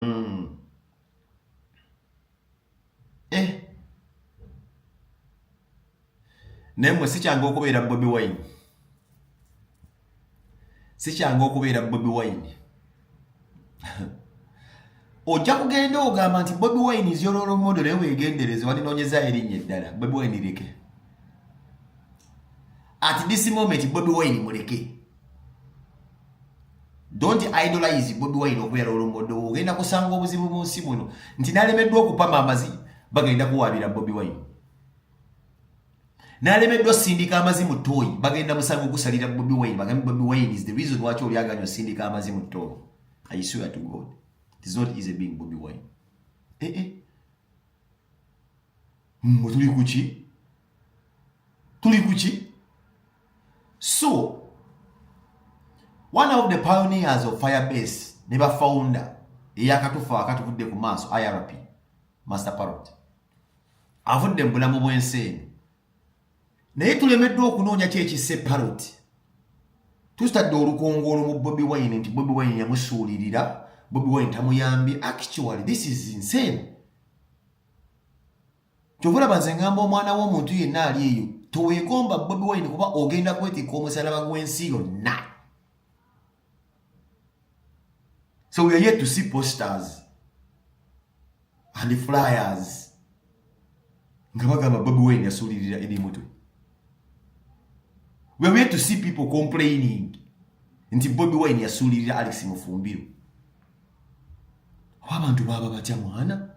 mm. eh. naye mwe sikyangu okubeera bobi wine sikyangu okubeera bobi wine ojja kugenda ogamba nti bobi wine is your role model naye wegendereze walinonyeza erinnya eddala bobi wine leke at this moment bobi wine muleke don't idolize bobi wine okubeera olombodowo ogenda kusanga obuzibu mu nsi muno nti nalemeddwa okupama amazi bagenda kuwaabira bobi wine nalemeddwa osindika amazi mu tooyi bagenda musanga okusalira bobi wine bagambe bobi wine is the reason waki olyaganya osindika amazi mu tooyi i swear to god it is not easy being bobi wine ee eh, eh. mwe tuli kuki tuli kuki So, one of the pioneers of Firebase ne ba founder eyakatufa akatuvudde ku maaso IRP Master Parrot avudde mu bulamu bw'ensi eno naye tulemeddwa okunoonya ki ekisse Parrot tusitadde olukongoolo mu Bobi Wine nti Bobi Wine yamusuulirira Bobi Wine tamuyambye actually this is insane kyova olaba nze ngamba omwana w'omuntu yenna ali eyo teweegomba bobi wine kuba ogenda kwetikka omusalaba gw'ensi yonna so we are yet to see posters and flyers nga bagamba bobi wine yasuulirira ebimutwe we are yet to see people complaining nti bobi wine yasuulirira alex mufumbiro oba abantu baaba batya mwana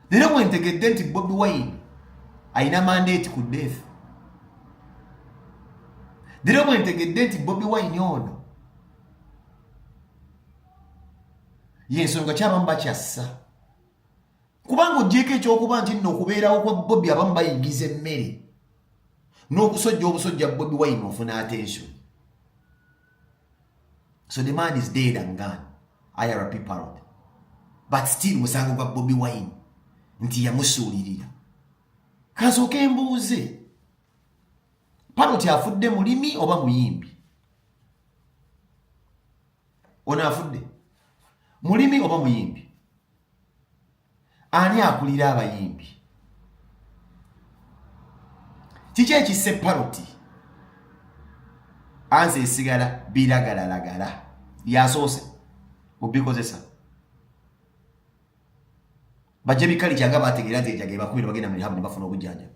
leero bwentegedde nti bobi wine alina mandeeti ku death leero bwentegedde nti bobi wine ono yensonga kyabamu bakyassa kubanga ogyeko ekyokuba nti nno okubeerawo kwa bobi abamu bayingiza emmere n'okusojja obusojja bobi wine ofuna atensio so the man is dead and gone irp parod but still musango gwa bobi wine nti yamusuulirira kansooka embuuze paroti afudde mulimi oba muyimbi ono afudde mulimi oba muyimbi ani akulira abayimbi kiki ekisse paroti anze esigala biragalalagala yasoose obikozesa bajja bikali kyanga bategeera nti ejagee bakubira bagenda mu lihabu ne bafuna obujjanjabi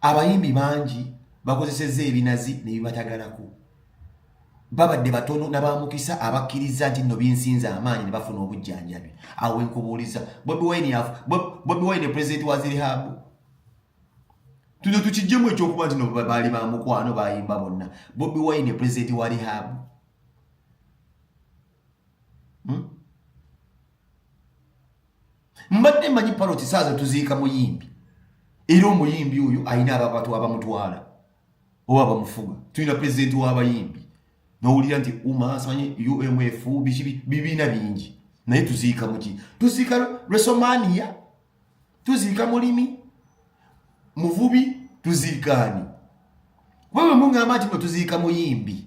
abayimbi bangi bakozesezza ebinazi nebibatagalako babadde batono nabamukisa abakkiriza nti nno binsinza amaanyi nebafuna obujjanjabi awo enkubuuliza bobi wine yafu bobi wine president wa zirihabu tuno tukijjemu ekyokuba nti no baali ba mukwano bayimba bonna bobi wine president wa rihabu hmm? mbadde manyi paloti saaza tuziika muyimbi era omuyimbi oyo alina ababatu abamutwala oba abamufuga tulina pulezidenti w'abayimbi nowulira nti umasanye umf bibiina bingi naye tuziika muki tuziika resomania tuziika mulimi muvubi tuziikaani wewe mungamba nti no tuziika muyimbi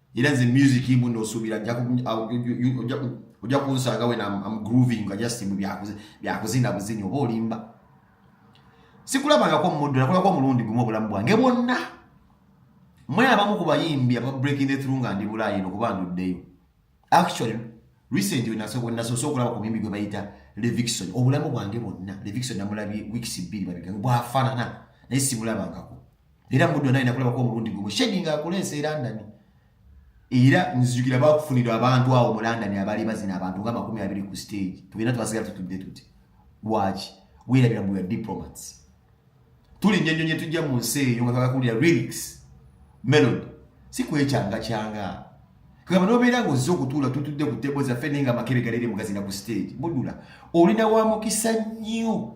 era nze music mbu nosubira ojja kunsanga wena am grooving nga just mbu byakuzina buzini oba olimba sikulabangako muddu nakulako omulundi gumu obulamu bwange bwonna mwe abamu ku bayimbi aba breaking the through nga ndi bulaayi eno kuba nduddeyo actually recent wenasoose okulaba ku muyimbi gwe bayita levixon obulamu bwange bwonna levixon namulabye weeks bbiri babigano bwafaanana naye simulabangako era muddo naye nakulabako omulundi gumu shegi nga akula ensi era ndani era nzijukira bakufunira abantu awo mu london abaali bazina abantu nga makumi abiri ku stage tugenda twasigala tutudde tuti waki werabira mbuya diplomats tuli nyenyo nye tujja mu nsi eyo nga twakakulira lyrics melody si kwekyanga kyanga kugamba nobeera nga ozze okutuula tutudde ku tebo zaffe naye nga amakebe galeere mugazina ku stage mudula olina wa mukisa nnyo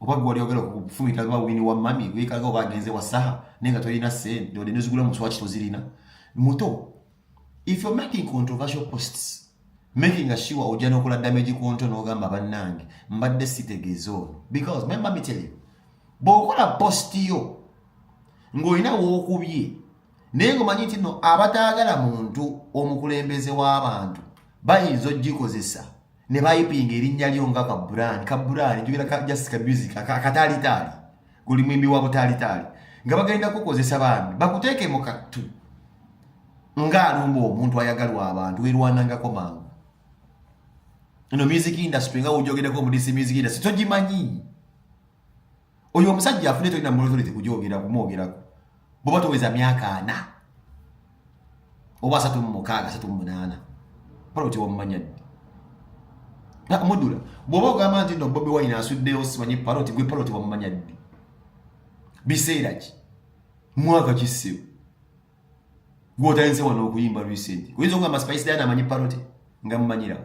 oba gwe wali ogala okufumita ba wini wa mami wekalaga oba agenze wa saha naye nga tolina sente ode nezigula mu swaki tozirina muto if you're making controversial posts making a sure ojja nokola damage ku nto n'ogamba bannange mbadde sitegeeza ono because my mami tell you bw'okola post yo ng'olina wookubye naye ng'omanyi nti no abataagala muntu omukulembeze w'abantu bayinza ogikozesa ne bayipinga erinnya lyo nga kaburaani kaburaani njogera ka just ka music akataalitaali guli mwimbi wa butaalitaali nga bagenda kukozesa bambi bakuteeke mu kattu ng'alumba omuntu ayagalwa abantu werwanangako mangu ino music industry nga wojogereko omudisi music industry togimanyi oyo omusajja afune tolina mulozolezi kujogera kumwogerako bwoba toweza myaka ana oba asatu mumukaaga asatu mumunaana pala otya wamumanya ddi mudula bwoba ogamba nti no bobi wine asuddeyo simanyi paloti gwe paloti wamumanya ddi biseera ki mwaka kisibu gwotayinze wano okuyimba recent oyinza okugamba spice dana amanyi paloti nga mumanyirawo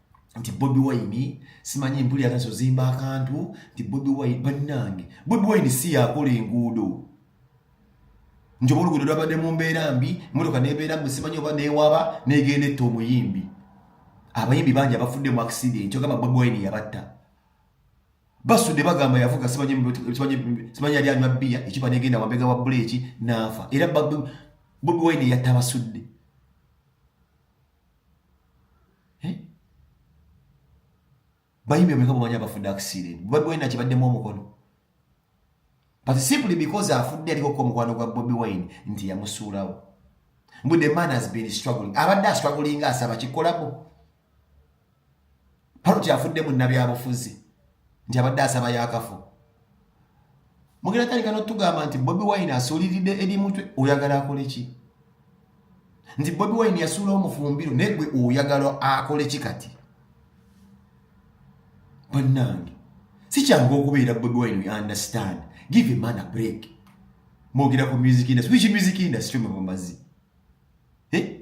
nti bobi wine simanyi mpulira nazo zimba akantu nti bobi wine bannange bobi wine si yakola enguudo nti oba oluguudo lwabadde mu mbeera mbi motoka nebeera mbu simanyi oba newaba negenda etta omuyimbi abayimbi bangi abafudde mu accident ogamba bobi wine yabatta basudde bagamba yavuga simanyi yali anywa bbiya ekiba negenda wambega wa buleeki naafa era bobi wine yatta basudde bayimbi omeka bamanya abafudde akisiire bobi wine akibaddemu omukono but simply because afudde aliko ku omukwano gwa bobi wine nti yamusuulawo mbu the man has been struggling abadde astruggling asaba kikolako Paluti afudde mu nabyabufuzi nti abadde asaba yakafu mugenda tandika notugamba nti bobi wine asuuliride eri mutwe oyagala akole ki nti bobi wine yasuula omufumbiro naye gwe oyagala akole ki kati bannange sikyangu okubeera bobi wine we understand give a man a break mwogera ku music industry which music industry mwebamazi eh?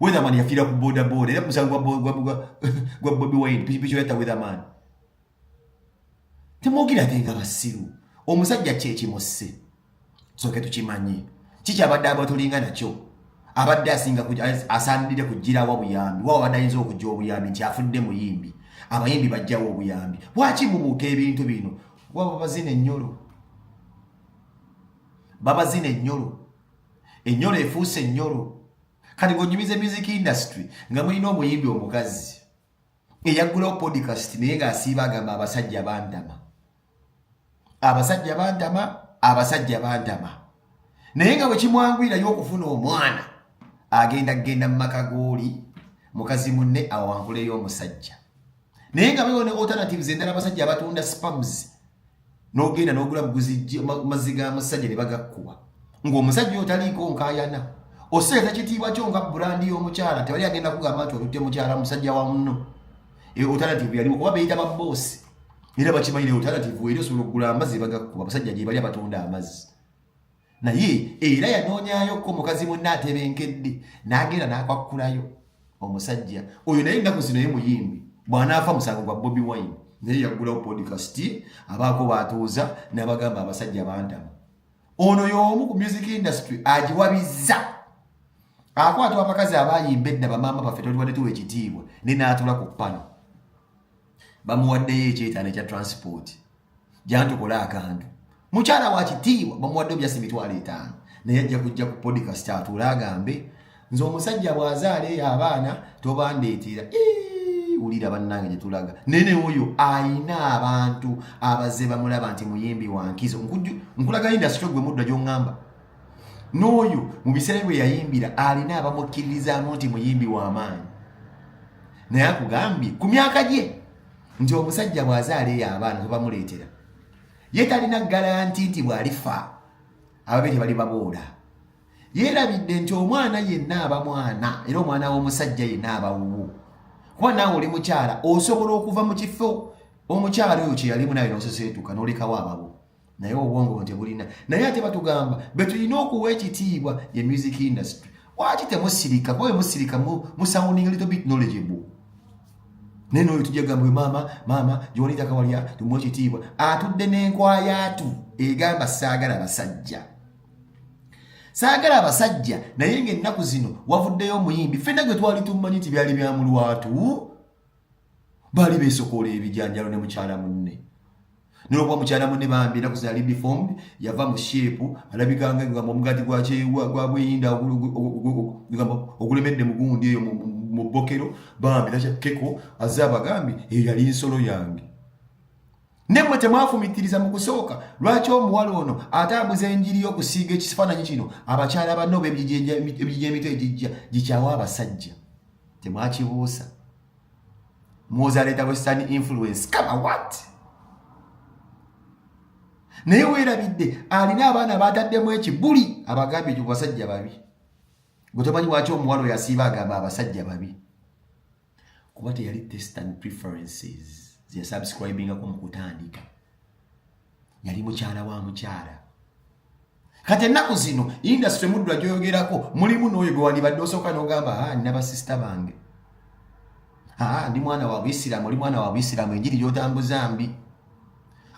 Weatherman yafiira ku boda boda era musango gwa Bobi Wine pikipiki oyata Weatherman temwogera ate nga basiru omusajja kyekimusse soke tukimanyi kikyabadde abatulinga nakyo abadde asinga asaanidde kugirawa buyambi waba abadde ayinza okujja obuyambi nti afudde muyimbi abayimbi bajjawo obuyambi lwaki mubuuka ebintu bino waba bazina ennyolo babazina ennyolo enyolo efuuse enyolo kati ngonyumiza music industry nga mulina omuyimbi omukazi eyaggulawo podcast naye ng'asiiba agamba abasajja bantama abasajja bantama abasajja bantama naye nga bwekimwangwirayo okufuna omwana agenda kugenda mu maka gooli mukazi munne awankuleyo omusajja naye nga bewo ne alternatives endala abasajja abatunda spams n'ogenda n'ogula buguzijje mazzi ga musajja ne bagakkuba ng'omusajja oyo taliiko nkayana oseeta kitiibwa kyo nga burandi y'omukyala tewali agenda kugamba nti olutte mukyala musajja wa muno e, alternative yaliwo kuba beyita baboosi era bakimanyire alternative eri osobola okugula amazzi bagakkuba abasajja gye bali abatunda amazzi naye era yanoonyayo ko mukazi munne atebenkedde n'agenda n'akwakkulayo omusajja oyo naye ennaku zino ye muyimbi bw'anaafa musango gwa bobi wine naye yaggulawo podcast abaako baatuuza n'abagamba abasajja bantama ono y'omu ku music industry agiwabizza akwatwa abakazi abayimba edda bamaama baffe tolibadde tuwa ekitiibwa ne n'atula ku pano bamuwaddeyo ekyetaano ekya transport jantukola akantu mukyala wa kitiibwa bamuwadde obyasi emitwalo etaano naye ajja kujja ku podcast atuule agambe nze omusajja bw'azaala eyo abaana tobandeetera wulira bannange gye tulaga naye ne oyo ayina abantu abazze bamulaba nti muyimbi wa nkizo nkulaga indasitry gwe mudda gy'oŋŋamba n'oyo mu biseera bwe yayimbira alina abamukkiririzaamu nti muyimbi w'amaanyi naye akugambye ku myaka gye nti omusajja bw'azaala eyo abaana kwe bamuleetera ye talina garanti nti bw'alifa ababe tebali baboola yeerabidde nti omwana yenna aba mwana era omwana w'omusajja yenna aba wuwo kuba naawe oli mukyala osobola okuva mu kifo omukyala oyo kye yalimu nawe n'oseseetuka n'olekawo ababo naye obwongo buno tebulina naye ate batugamba betulina okuwa ekitiibwa ye music industry waki temusirika kuba emusirika musounding little bit knowledgeable naye noyo tujja gamba maama maama gyewalita kawalya tumuwa ekitiibwa atudde n'enkwayatu egamba saagala basajja saagala abasajja naye ngaennaku zino wavuddeyo omuyimbi fenna gwe twali tummanyi nti byali byamulwatu baali beesokoola ebijanjalo ne mukyala munne nolwokuba mukyala munne bambi enaku zali deformed yava mu sheepu alabikanga egamba omugaati gwabweyinda egamba ogulemedde mugundi eyo mu bbokero bambi nakeko aze abagambi eyo yali nsolo yange nemwe temwafumitiriza mu kusooka lwaki omuwala ono atambuza enjiri y'okusiiga ekifaananyi kino abakyala banno bebijija emitwe egijja gikyawa abasajja temwakibuusa muwoza aleeta western influence kama wat naye weerabidde alina abaana baataddemu ekibuli abagambye ekyo basajja babi gwe tomanyi waki omuwala oyo asiiba agamba abasajja babi kuba teyali testan preferences zeyasubscribingako mu kutandika yali mukyala wa mukyala kati ennaku zino indasitule muddwa gyoyogerako mulimu n'oyo gwe wandibadde osooka n'ogamba a ah, nina basisita bange a ah, ndi mwana wa buisiraamu oli mwana wa buisiraamu enjiri gyotambuza mbi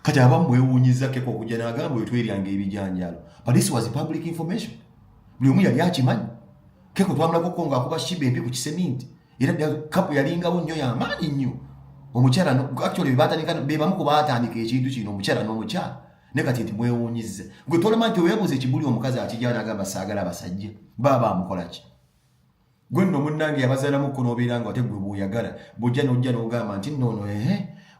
kati abamu bwewuunyiza keko okujja n'agamba oyo tweryanga ebijanjalo but this was public information buli omu yali akimanyi keko twamulako ko nga akuba shiba embi ku kiseminti era kapu yalingawo nnyo yamaanyi nnyo omukyala actually bebamu ku baatandika ekintu kino omukyala n'omukyala ne kati nti mwewuunyizza gwe tolema nti weebuuza ekibuli omukazi akijana agamba saagala abasajja baaba amukola ki gwe nno munnange yabazaalamuko n'obeera nga ate gwe bw'oyagala bw'ojja n'ojja n'ogamba nti nnoono ehe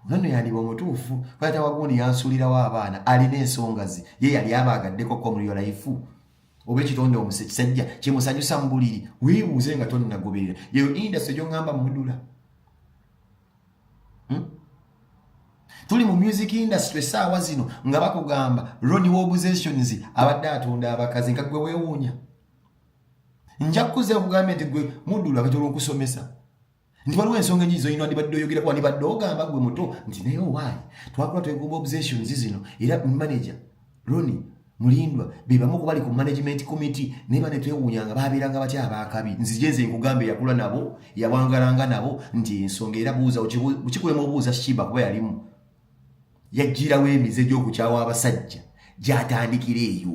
nono yandiba omutuufu kwata wagundi yansuulirawo abaana alina ensonga ze ye yali abaagaddeko ko muri yolaifu oba ekitonde omuse kisajja kyemusanyusa mu buliri weebuuze nga tonnagoberera yeyo indasi egyoŋŋamba mudula hmm? tuli mu music industry saawa zino nga bakugamba Ronnie Wobuzations abadde atunda abakazi nga gwe weewuunya nja kukuza nkugambye nti gwe mudulu akati olwokusomesa nti waliwo ensonga enyingi zolina wandibadde oyogera kuba ndibadde ogamba gwe muto nti naye owaayi twakula twegomba obsessions zino era manager Roni mulindwa be bamu ku bali ku management committee naye bane twewuunya nga baabeeranga batya abaakabi nzije nze nkugambe yakula nabo yawangalanga nabo nti ensonga era buuza kikulema obuuza shiba kuba yalimu yajjirawo emize gy'okukyawa abasajja gyatandikira eyo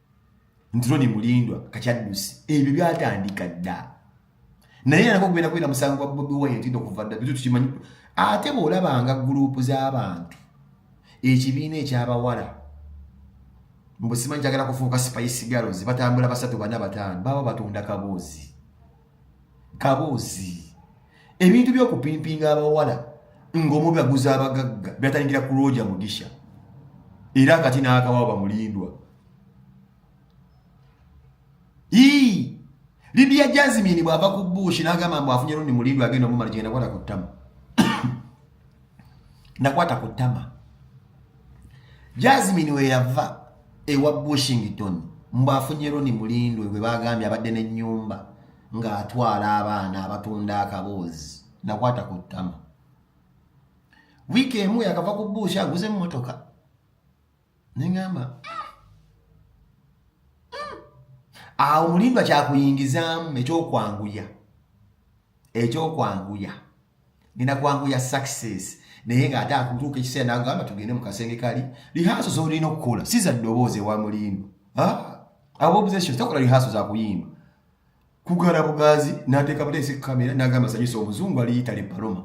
nti Ronnie Mulindwa kakyaddusi ebyo byatandika dda naye yanako okugenda kubera musango gwa Bobi Wine nti okuva dda bitu tukimanyi ate bw'olabanga guruupu z'abantu ekibiina eky'abawala mbu simanyi kyagala kufuuka spice girls batambula basatu bana bataano baba batunda kaboozi kaboozi ebintu byokupimpinga abawala ngaomubaguza abagagga byatandikira ku lwoja mugisha era kati n'akawa bamulindwa ii lidia jasmine bwava ku bush n'agamba mbu afunye lundi mulindwa agenda omumala genda kwata ku ttama nakwata ku ttama jasmine weyava ewa bushington mbu afunye roni mulindwe gwe bagambye abadde n'ennyumba ng'atwala abaana abatunda akaboozi nakwata ku ttama wiiki emu yakava ku buushi aguze emmotoka neŋamba awo mulimba kyakuyingizaamu ekyokwanguya ekyokwanguya ngenda kwanguya success naye ng'ate akutuuka ekiseera nagamba tugende mu kasenge kali lihaso zolina okukola si za ddoboozi ewa mulimba ah, abobuzations tokola lihaso zakuyimba kugala bugazi nateeka buteesi kukamera nagamba sanyusa omuzungu ali yitale paloma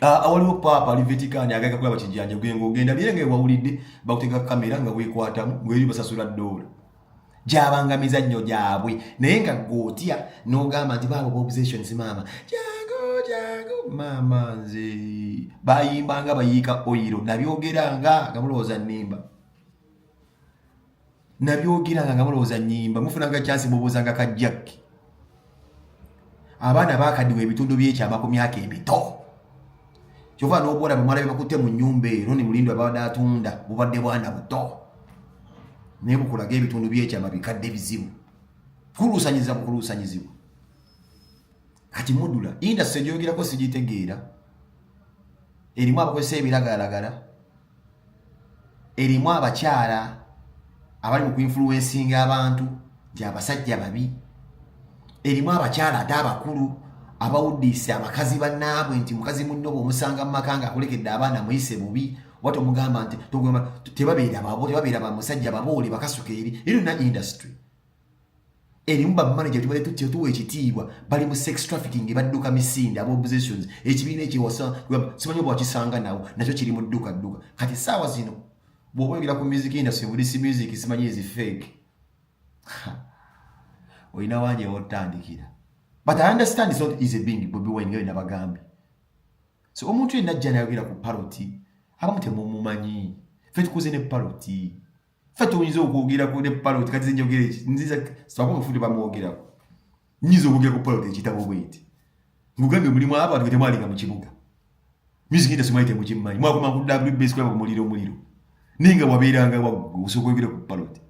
awaliwo paapa ali vetikaani agaga kulaba kijanja gwenga ogenda bye nga ewawulidde bakuteeka kukamera nga wekwatamu ngeri basasula doola gyabanga mizannyo gyabwe naye nga gotya nogamba nti baabo bobusations maama jangu jangu maama nze bayimbanga bayiika oyiro nabyogeranga nga mulowooza nimba nabyogeranga nga mulowooza nyimba mufunanga kyansi mubuuzanga ka jakki abaana bakadiwa ebitundu byekyama ku myaka emito kyova nobwola bamala bebakutte mu nyumba ero ni mulindo ababadde atunda bubadde bwana buto naye bukulaga ebitundu byekyama bikadde bizibu kuluusanyiza bukuluusanyizibwa kati mudula indasi egyogerako sigitegeera erimu abakozesa ebiragalalagala erimu abakyala abali mu kuinfuluwensinga abantu gyabasajja babi erimu abakyala ate abakulu abawuddiise abakazi bannaabwe nti mukazi munno bwomusanga mu maka nga akolekedde abaana muyise bubi oba tomugamba nti tebabeera babo tebabeera bamusajja baboole bakasuka eri eri na industry erimu bamanaja tubale tutya tuwa ekitiibwa bali mu sex trafficking badduka misinde aba oppositions ekibiina ekyewasa simanyi oba wakisanga nawo nakyo kiri mu dduka dduka kati saawa zino bwoba oyogera ku music industry bulisi music simanyi ezi fake olina wangi ewotandikira but i understand it's not easy being bobi wine ngayo nabagambye so omuntu yenna ajja nayogera ku paroti abamu temumumanyi fe tukuze ne paroti ffe tuyinza okwogerako ne paloti kati zinjogera eki nziza sibako mufundi bamwogerako nyinza okwogera ku paloti ekitabo bweti ngugambye mulimu abantu getemwalinga mu kibuga music industry mwali temukimanyi mwakoma ku wbs kulaba ku muliro omuliro naye nga wabeeranga waggwe osobola okwogera ku paloti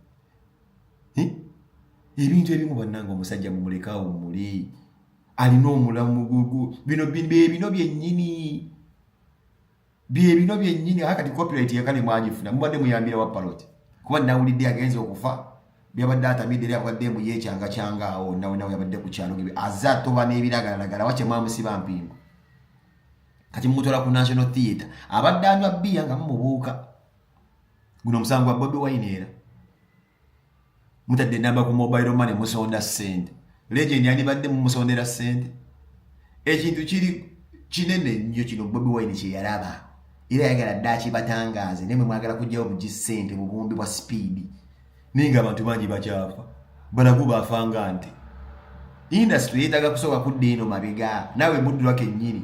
ebintu ebimu bannanga omusajja mumulekaawo muli alina omulamu bino byenyini bye bino byennyini aka kati copyright yakale mwagifuna mubadde muyambira wa paloti kuba nawulidde agenze okufa byabadde atamidde era abadde mbu yekyanga kyanga awo nawe nawe yabadde ku kyalo gebe aze atoba n'ebiragalalagala wakye mwamusiba mpingo kati mumutwala ku national theatre abadde anywa bbiya nga mumubuuka guno omusango gwa bobi wine era mutadde namba ku mobile money musonda sente legend yandibadde mumusondera sente ekintu kiri kinene nnyo kino bobi wine kyeyalaba era yayagala dda akibatangaaze naye mwe mwagala kujjawo bugi sente mu buwumbi bwa sipiidi naye nga abantu bangi bakyafa balagu bafanga nti indasitule yeetaaga kusooka kudda eno mabega naawe muddulwa kennyini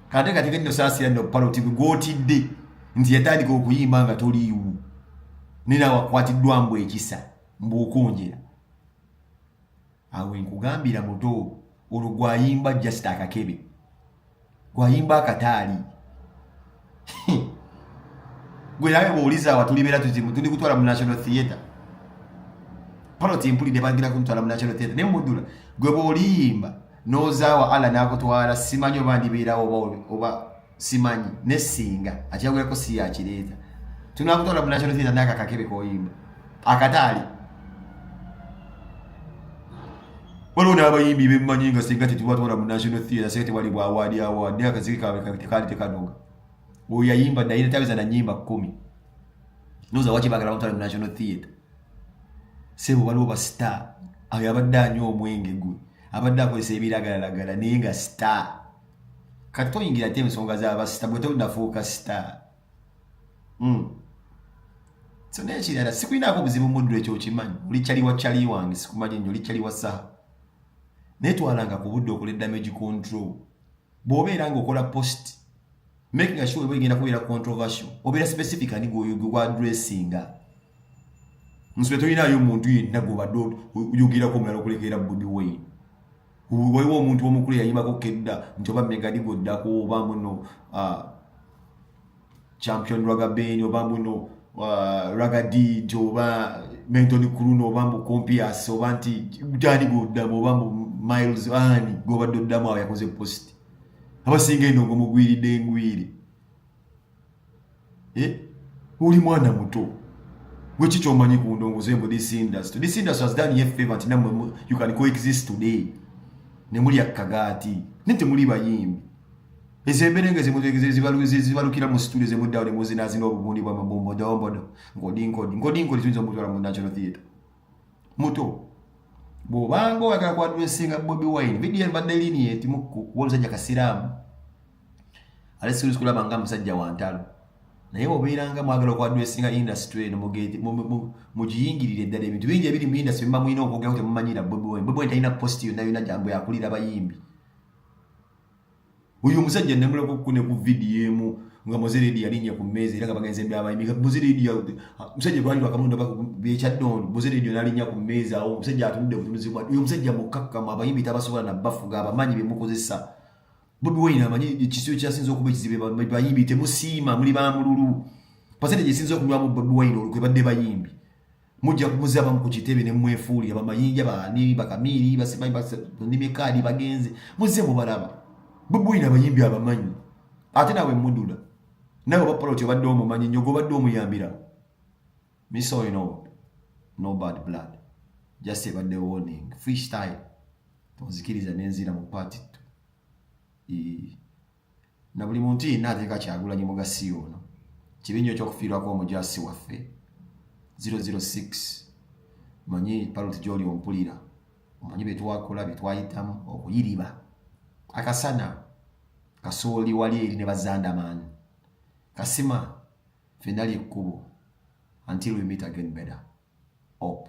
kate kati kenno saasira nno paloti gwotidde nti yatandika okuyimba nga toliiwo nina wakwatiddwa mbu ekisa mbuokunjira awo enkugambira muto olwo gwayimba just akakebe gwayimba akataali gwe nawe bwowuliza awa tulibeera tuzimu tuli kutwala mu national theatre paloti mpulidde bagenda kuntwala mu national theatre naye mudula gwe bwoliyimba nozaawa allah nakutwala simanyi oba ndibeerawo oba simanyi ne singa akyagulako si yakireeta tunakutwala munational theatre naye akakakebe koyimba akataali waliwo n'abayimbi bemumanyi nga singa tetubatwala mu national theatre singa tewali bwawaadi awaadi naye akaziki kawe tekaali tekanoga oyo yayimba naye netaweza na nyimba kumi noza waki bagala bamutwala mu national theatre sebo waliwo ba star ayo abadde anywa omwenge gwe abadde akozesa ebiragalalagala naye nga star kati toyingira ate ensonga zabasita gwe tonafuuka sita hmm. so naye kirala sikulinaako obuzibu muddu ekyo okimanyi oli cali wa cali wange sikumanyi nyo oli cali wa saha naye twalanga ku budde okola damage control bw'obeera nga okola post making sure eba egenda kubeera controversial obeera specific ani gwa dressinga nsbe tolinayo omuntu yenna gwobadde oyogerako omulala okulekeera bobi wayne waliwo omuntu omukulu yayimbako kedda nti oba megadi gwoddako oba muno ah, champion ragabeni oba muno ah, ragadi nti oba mentoni kuluno oba mbu compias oba nti gani gwoddamu oba mbu miles ani gwobadde oddamu awo yakoze post abasinga eno ngomugwiridde engwiri eh? oli mwana muto gwe ki kyomanyi ku ndongoze mbu this industry this industry has done ye favor nti namwe you can coexist today ne muli akagaati ne temuli bayimbi ezo embeera nga zibalukira mu situle zemuddawo ne muzinaazina obugundi bwa mabombodombodo nkodinkodi nkodinkodi tuyinza omutwala mu national theatre muto bw'obanga oyagala kwadwesinga bobi wine vidiyo ebadde linieti mukku womusajja kasiraamu ate siwulizi kulaba nga musajja wa ntalo naye obeeranga mwagala okwadwesinga industry eno mugiyingirire eddala ebintu bingi ebiri mu industry biba mulina okwogeraku temumanyira bwebwen bwebwen talina post yonna yona gyambu yakulira bayimbi oyo omusajja nemuleka okukune ku vidiyo emu nga muziridi yalinnya ku mmeeza era nga bagenze byabayimbi nga muziridi musajja gwali wakamunda byekyaddondo muziridi nalinnya ku mmeeza awo omusajja atunudde butunuzi bwa oyo omusajja mukkakkamu abayimbi tabasobola nabafuga abamanyi bemukozesa Bobi Wine amanyi ekisiyo kyasinze okuba ekizibe bayimbi temusiima muli ba mululu pasente gyesinze okunywamu Bobi Wine olukwe badde bayimbi mujja kumuzaba mu kitebe ne mwefuuli abamayinja baani bakamiiri basimanyimekaadi bagenze muzze mubalaba Bobi Wine abayimbi abamanyi ate nawe mudula nawe bapoloti obadde omumanyi nyo gobadde omuyambira misoino no bad blood just ebadde warning freestyle onzikiriza nenzira mu paati ttu na buli muntu yenna ateeka kyagulanyi mugasi ono kibi nnyo ekyokufiirwako omujasi waffe 006 manyi paloti gyoli ompulira omanyi byetwakola byetwayitamu okuyiriba akasana kasooli wali eri ne bazandamaani kasima fenali ekkubo until we meet again better op